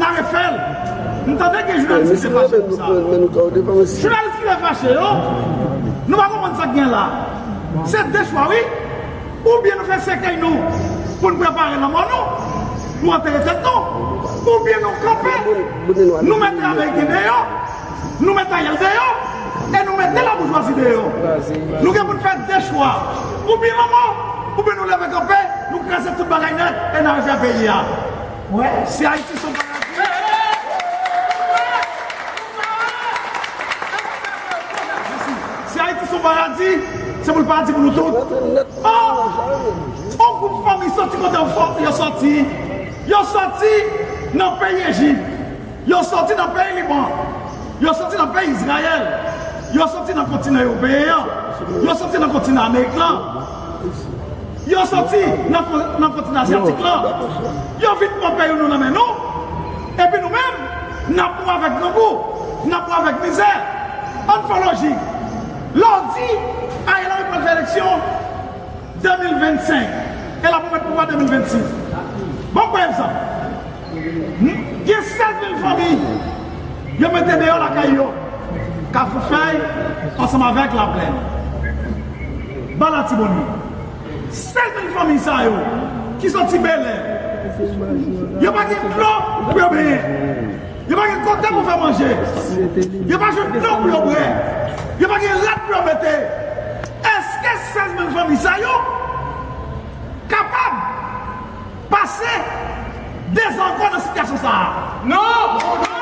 Na refel. M tande gen jounalis ki te fache pou sa. Jounalis ki te fache yo, nou pa konprann sak gen la. Se 2 chwa wi. Oubyen nou fè sèkèy nou pou n prepare lanmò nou, pou antere tèt nou, oubyen nou kanpe, nou mete ameriken deyò, nou mete Ariel deyò e nou mete laboujwazi deyò. Nou gen pou n fè 2 chwa. Oubyen lanmò, oubyen nou leve kanpe, nou kraze tout bagay nèt e na refè peyi a. Wè si Ayiti son paradi. Hey hey hey! Si Ayiti son paradi, se pou l paradi pou nou tout. Oh! On gwoup fanmi sòti kote yo sòti. Yo sòti nan peyi Ejip. Yo soti nan peyi Liban, yo soti nan peyi Izrayèl, yo soti nan kontinan ewopeyen an, yo soti nan kontinan amerik lan, yo soti nan kontinan azyatik lan, yo vin pran peyi nou nan men nou, epi nou menm, n ap mou avèk grangou, n ap mou avèk mizè. An n fè yon lojik, lè w di Ariel Henry pral fè eleksyon 2025, e l ap remèt pouvwa 2026, ban m pran egzanp. Gen 16 mil fanmi yo mete deyò lakay yo, Kafoufèy ansanm avèk Laplèn, Ba Latibonit. 16 mil fanmi sa yo ki soti Belè, yo pa gen dlo pou yo benyen, yo pa gen kote pou fè manje, yo pa jwenn dlo pou yo bwè, yo pa gen rad pou yo mete. Eske 16 mil fanmi sa yo kapab? Pase! Dezakò nan sitiyasyon sa a. Non!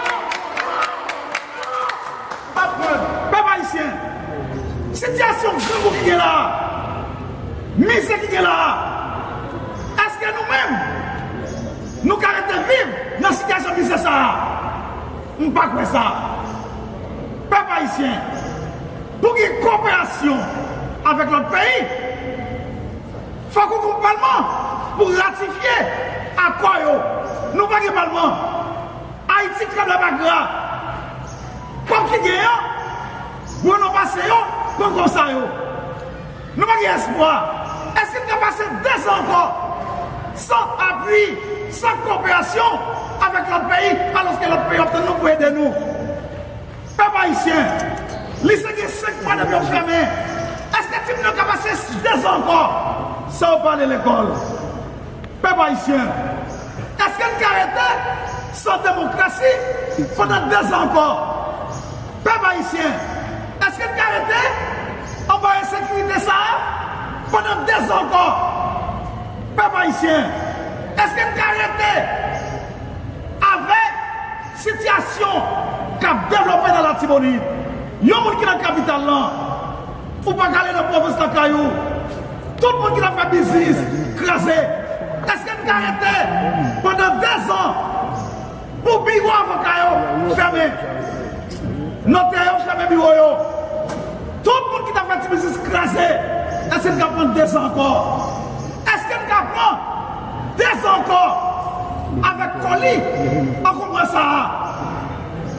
Pèp Ayisyen, sitiyasyon grangou ki gen la a, mizè ki gen la a, èske nou menm nou ka rete viv nan sitiyasyon mizè sa a? M pa kwè sa. Pèp Ayisyen, pou ki koperasyon avèk lòt peyi? Fòk ou gen palman pou ratifye akò yo. Nou pa gen palman. Ayiti krablabakra. Kòb ki gen an, gwo non pase yo, pran kòb sa yo. Nou pa gen espwa. Èske n ka pase dezan ankò san apui, san koperasyon avèk lòt peyi alòske lòt peyi yo ap tann nou pou ede nou? Pèp ayisyen, lise gen 5 mwa depi yo fèmen, eske timoun yo ka pase 2 zan ankò san yo pa ale lekòl? Pèp ayisyen, eske n ka rete san demokrasi pandan 2 zan ankò? Pèp ayisyen, eske n ka rete anba ensekirite sa a pandan 2 zan ankò? Pèp ayisyen, eske n ka rete avèg? Sitiyasyon k ap devlope nan Latibonit Yon moun ki nan kapital lan Ou pa ka ale nan pwovens lakay ou Tout moun ki t ap fè biznis kraze Èske n ka rete pandan dezan Pou biwo avoka yo fèmen Notè yo fèmen biwo yo Tout moun ki t ap fè ti biznis kraze Èske n ka pran dezan ankò Èske n ka pran. Dezè ankò avèk foli ankonpran sa a.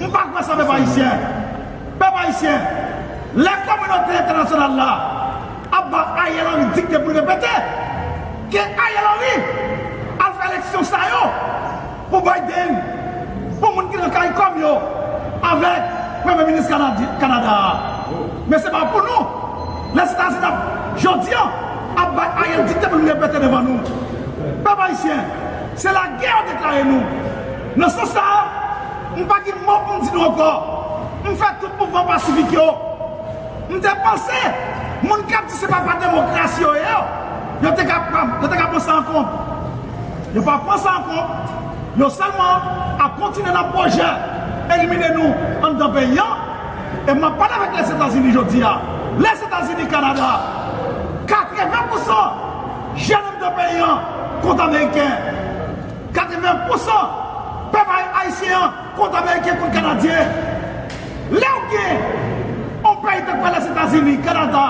M pa kwè sa pèp ayisyen. Pèp ayisyen, lè kominote entènasyonal la ap ba Ariel Henry dikte pou l repete, ke Ariel Henry al fè eleksyon sa yo. Pou Biden, pou moun ki nan caricom yo avèk premye minis Canada a. Men se pa pou nou. Lèzetazini ap jodi an ap bay Ariel dikte pou li repete devan nou. Pèp ayisyen, se lagè yo deklare nou. Nan sans sa a, m pa gen mo pou m di nou ankò. M fè tout mouvman pasifik yo. M te panse moun kap di se pa pa demokrasi yo ye yo te ka pran sa an kont. Yo pa pran sa an kont, yo sèlman ap kontinye nan pwojè elimine nou anndan peyi an. E map pale avèk Lèzetazini jodi a, Lèzetazini, Kanada, 80 pousan jèn anndan peyi an kont ameriken, 80 pousan pèp ayisyen an Kont ameriken kont kanadyen lèw gen yon peyi tank pa lèzetazini kanada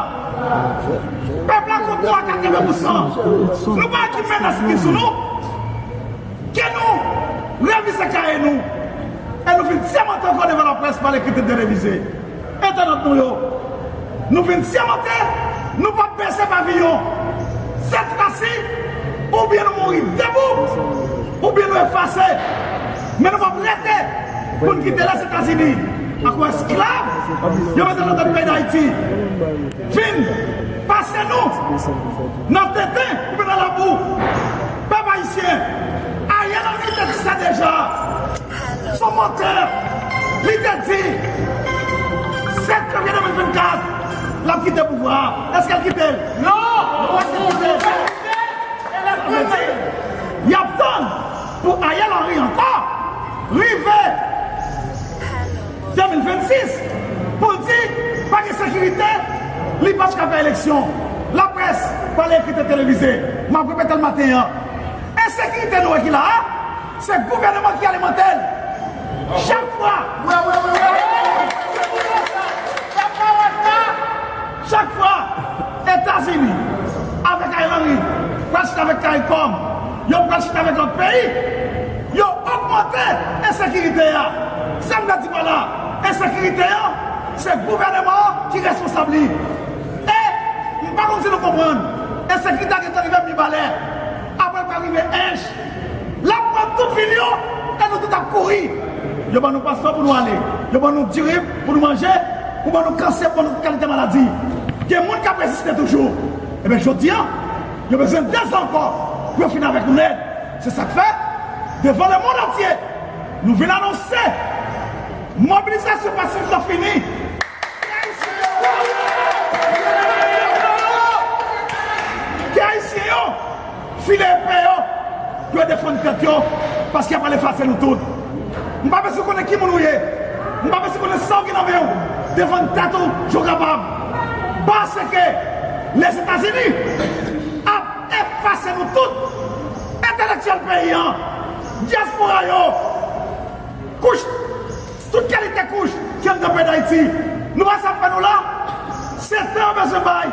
pèp la kont nou a 80 pousan nou pa ki menas ki sou nou ke nou revize kaye nou e nou vin sèmante ankò devan laprès pa lekri tèt de revize. Entènot nou yo, nou vin sèmante nou pap bese paviyon sèt rasi oubyen nou mouri debou oubyen nou efase men nou pap rete pou n kite Lèzetazini ak yon esklav yo mete nan tèt peyi Dayiti vin pase nou nan tenten oubyen nan labou. Pèp Ayisyen, Ariel Henry te di sa deja. Sou motè, li te di, 7 fevrier 2024, l ap kite pouvwa a. Èske l kite l? Non! Yo pa janm kite l. Sa vle di, y ap tann pou Ariel Henry ankò rive 2026 pou l di pa gen sekirite, li pap ka fè eleksyon. Laprès pale ekri te televize. M ap repete l maten an. Ensekirite nou wè ki la a, Se gouveneman ki ale monte l chak fwa. Wi wi wi wi. Fè pawòl sa chak fwa. Etazini avèk Ariel Henry pral chita avèk caricom, yo pral chita avèk lòt peyi, yo ogmante ensekirite a. Sa m vle di pa la, ensekirite an se gouveneman an ki responsab li. E m pa konn si nou konprann, ensekirite a gentan rive Mibalè, aprè l pral rive Ench. Lè m pran tout vil yo, e nou tout ap kouri. Yo ban nou paspò pou nou ale. Yo ban nou diri pou nou manje. Yo ban nou kansè. Yo ban nou tout kalite maladi. Gen moun k ap reziste toujou. Enben, jodi a, yo bezwen dezan ankò pou yo fin avèk nou nèt. Se sa k fè, devan lemonn antye, nou vin anonse mobilizasyon pasif la fini. Ke Ayisyen yo leve kanpe! Ke Ayisyen yo! File epè yo pou yo defann tèt yo paske y ap al efase nou tout. M pa bezwen konnen ki moun ou ye, m pa bezwen konnen sa w gen nan men w, defann tèt ou jan w kapab paske Lèzetazini ap efase nou tout, entelektyèl peyi an, dyaspora yo, kouch. Tout kalite kouch ki anndan peyi dayiti nou wè sa fè nou la se tan yo bezwen bay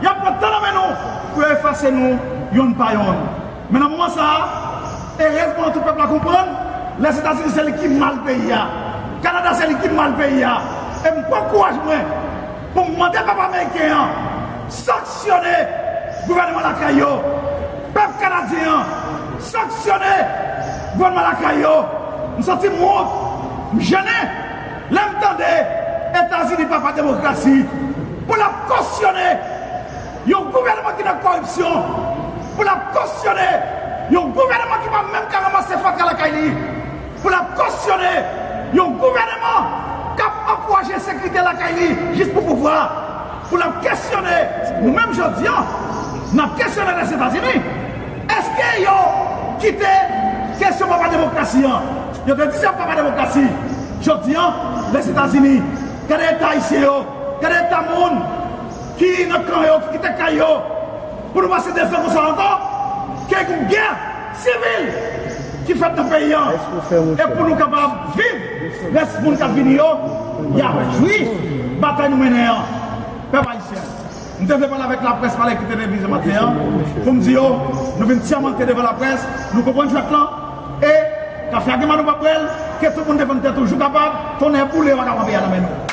yap pran tan nan men nou pou yo efase nou yonn pa yonn men nan moman sa erezman tout pèp la konprann lèzetazini se li ki mal peyi a kanada se li ki mal peyi a em pran kouraj mwen Pou m mande pèp ameriken an sanksyone gouvènman lakay yo, pèp kanadyen an sanksyone gouvènman lakay yo, m santi m wont, m jennen lè m tande Etazini papa demokrasi pou l ap kosyone yon gouvènman ki nan kòripsyon, pou l ap kosyone yon gouvènman ki pa menm ka ranmase fatra lakay li. Pou l ap kosyone yon gouvèneman k ap ankouraje ensekirite lakay li jis pou pouvwa. Pou l ap kesyone nou menm jodi an, n ap kesyone Lèzetazini, èske yo kite kesyon papa demokrasi an, yo te di se yon papa demokrasi, jodi an Lèzetazini, gade eta Ayisyen yo, gade eta moun ki nan kan yo, ki kite kay yo, pou nou pase 2 zan konsa ankò? Ke gen gè? Sivil ki fèt nan peyi an e pou nou kapab viv rès moun kap vini yo ya jwi batay nou mennen an pèp ayisyen m te vle pale avèk laprès pale ki te televize maten an poum di yo nou vin sèmante devan laprès nou konprann jwèt lan e kafe a gen mal nou pap bwèl ke tout moun defann tèt ou jou kapab tonnè boule yo ak avan peyi a nan men nou.